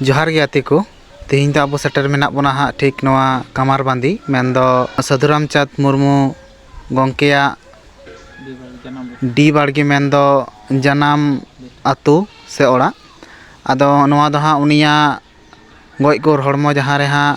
ᱡᱚᱦᱟᱨ ᱜᱮ ᱜᱟᱛᱮ ᱠᱚ ᱛᱮᱦᱮᱧ ᱫᱚ ᱟᱵᱚ ᱥᱮᱴᱮᱨ ᱢᱮᱱᱟᱜ ᱵᱚᱱᱟ ᱦᱟᱸᱜ ᱴᱷᱤᱠ ᱱᱚᱣᱟ ᱠᱟᱢᱟᱨ ᱵᱟᱸᱫᱤ ᱢᱮᱱᱫᱚ ᱥᱟᱹᱫᱷᱩ ᱨᱟᱢᱪᱟᱸᱫᱽ ᱢᱩᱨᱢᱩ ᱜᱚᱢᱠᱮᱭᱟᱜ ᱰᱤ ᱵᱟᱲᱜᱮ ᱢᱮᱱᱫᱚ ᱡᱟᱱᱟᱢ ᱟᱹᱛᱩ ᱥᱮ ᱚᱲᱟᱜ ᱟᱫᱚ ᱱᱚᱣᱟ ᱫᱚ ᱦᱟᱸᱜ ᱩᱱᱤᱭᱟᱜ ᱜᱚᱡ ᱜᱩᱨ ᱦᱚᱲᱢᱚ ᱡᱟᱦᱟᱸ ᱨᱮ ᱦᱟᱸᱜ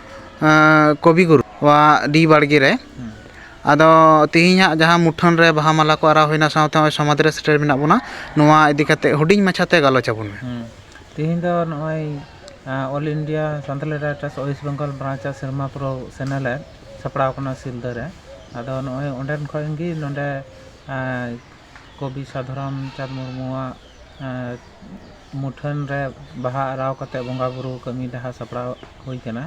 ᱠᱚᱵᱤ ᱜᱩᱨᱩ ᱟᱜ ᱰᱤ ᱵᱟᱲᱜᱮ ᱨᱮ ᱟᱫᱚ ᱛᱮᱦᱮᱧ ᱦᱟᱸᱜ ᱡᱟᱦᱟᱸ ᱢᱩᱴᱷᱟᱹᱱ ᱨᱮ ᱵᱟᱦᱟ ᱢᱟᱞᱟ ᱠᱚ ᱟᱨᱟᱣ ᱦᱩᱭᱱᱟ ᱥᱟᱶᱛᱮ ᱱᱚᱜᱼᱚᱭ ᱥᱚᱢᱟᱫᱷᱤ ᱨᱮ ᱥᱮᱴᱮᱨ ᱢᱮᱱᱟᱜ ᱵᱚᱱᱟ ᱱᱚᱣᱟ ᱤᱫᱤ ᱠᱟᱛᱮᱫ ᱦᱩᱰᱤᱧ ᱢᱟᱪᱷᱟᱛᱮ ᱜᱟᱞᱚᱪ ᱟᱵᱚᱱ ᱢᱮ ᱛᱮᱦᱮᱧ ᱫᱚ ᱱᱚᱜᱼᱚᱭ all India Santali writers west Bengal branch ᱟᱜ ᱥᱮᱨᱢᱟ ᱯᱩᱨᱟᱹᱣ ᱥᱮᱱᱮᱞᱮᱫ ᱥᱟᱯᱲᱟᱣ ᱠᱟᱱᱟ ᱥᱤᱞᱫᱟᱹ ᱨᱮ ᱟᱫᱚ ᱱᱚᱜᱼᱚᱭ ᱚᱸᱰᱮᱱ ᱠᱷᱚᱱ ᱜᱮ ᱱᱚᱰᱮ ᱠᱚᱵᱤ ᱥᱟᱫᱷᱩᱨᱟᱢᱪᱟᱸᱫᱽ ᱢᱩᱨᱢᱩᱣᱟᱜ ᱢᱩᱴᱷᱟᱹᱱ ᱨᱮ ᱵᱟᱦᱟ ᱟᱨᱟᱣ ᱠᱟᱛᱮ ᱵᱚᱸᱜᱟ ᱵᱳᱨᱳ ᱠᱟᱹᱢᱤ ᱰᱟᱦᱟ ᱥᱟᱯᱲᱟᱣ ᱦᱩᱭ ᱠᱟᱱᱟ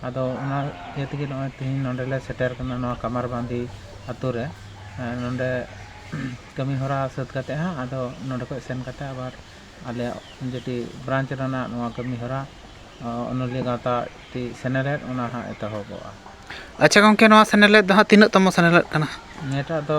ᱟᱫᱚ ᱚᱱᱟ ᱤᱭᱟᱹ ᱛᱮᱜᱮ ᱱᱚᱜᱼᱚᱭ ᱛᱮᱦᱮᱧ ᱱᱚᱰᱮ ᱞᱮ ᱥᱮᱴᱮᱨ ᱠᱟᱱᱟ ᱱᱚᱣᱟ ᱠᱟᱢᱟᱨ ᱵᱟᱸᱫᱷᱤ ᱟᱛᱳ ᱨᱮ ᱱᱚᱰᱮ ᱠᱟᱹᱢᱤ ᱦᱚᱨᱟ ᱥᱟᱹᱛ ᱠᱟᱛᱮ ᱦᱟᱸᱜ ᱟᱫᱚ ᱱᱚᱰᱮ ᱠᱷᱚᱡ ᱥᱮᱱ ᱠᱟᱛᱮ ᱟᱵᱟᱨ ᱟᱞᱮᱭᱟᱜ ᱡᱮᱴᱤ ᱵᱨᱟᱱᱪ ᱨᱮᱱᱟᱜ ᱱᱚᱣᱟ ᱠᱟᱹᱢᱤ ᱦᱚᱨᱟ ᱚᱱᱚᱞᱤᱭᱟᱹ ᱜᱟᱶᱛᱟ ᱴᱤ ᱥᱮᱱᱮᱞᱮᱫ ᱚᱱᱟ ᱦᱟᱸᱜ ᱮᱛᱚᱦᱚᱵᱚᱜᱼᱟ ᱟᱪᱪᱷᱟ ᱜᱚᱢᱠᱮ ᱱᱚᱣᱟ ᱥᱮᱱᱮᱞᱮᱫ ᱫᱚ ᱦᱟᱸᱜ ᱛᱤᱱᱟᱹᱜ ᱛᱚᱢᱚ ᱥᱮᱱᱮᱞᱮᱫ ᱠᱟᱱᱟ ᱱᱤᱭᱟᱹᱴᱟᱜ ᱫᱚ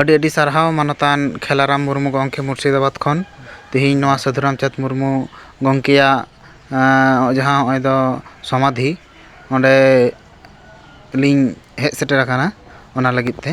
ᱟᱹᱰᱤ ᱟᱹᱰᱤ ᱥᱟᱨᱦᱟᱣ ᱢᱟᱱᱚᱛᱟᱱ ᱠᱷᱮᱞᱟᱨᱟᱢ ᱢᱩᱨᱢᱩ ᱜᱚᱢᱠᱮ ᱢᱩᱨᱥᱤᱫᱟᱵᱟᱫᱽ ᱠᱷᱚᱱ ᱛᱮᱦᱮᱧ ᱱᱚᱣᱟ ᱥᱟᱹᱫᱷᱩ ᱨᱟᱢᱪᱟᱸᱫᱽ ᱢᱩᱨᱢᱩ ᱜᱚᱢᱠᱮᱭᱟᱜ ᱡᱟᱦᱟᱸ ᱱᱚᱜᱼᱚᱭ ᱫᱚ ᱥᱚᱢᱟᱫᱷᱤ ᱚᱸᱰᱮ ᱞᱤᱧ ᱦᱮᱡ ᱥᱮᱴᱮᱨ ᱟᱠᱟᱱᱟ ᱚᱱᱟ ᱞᱟᱹᱜᱤᱫ ᱛᱮ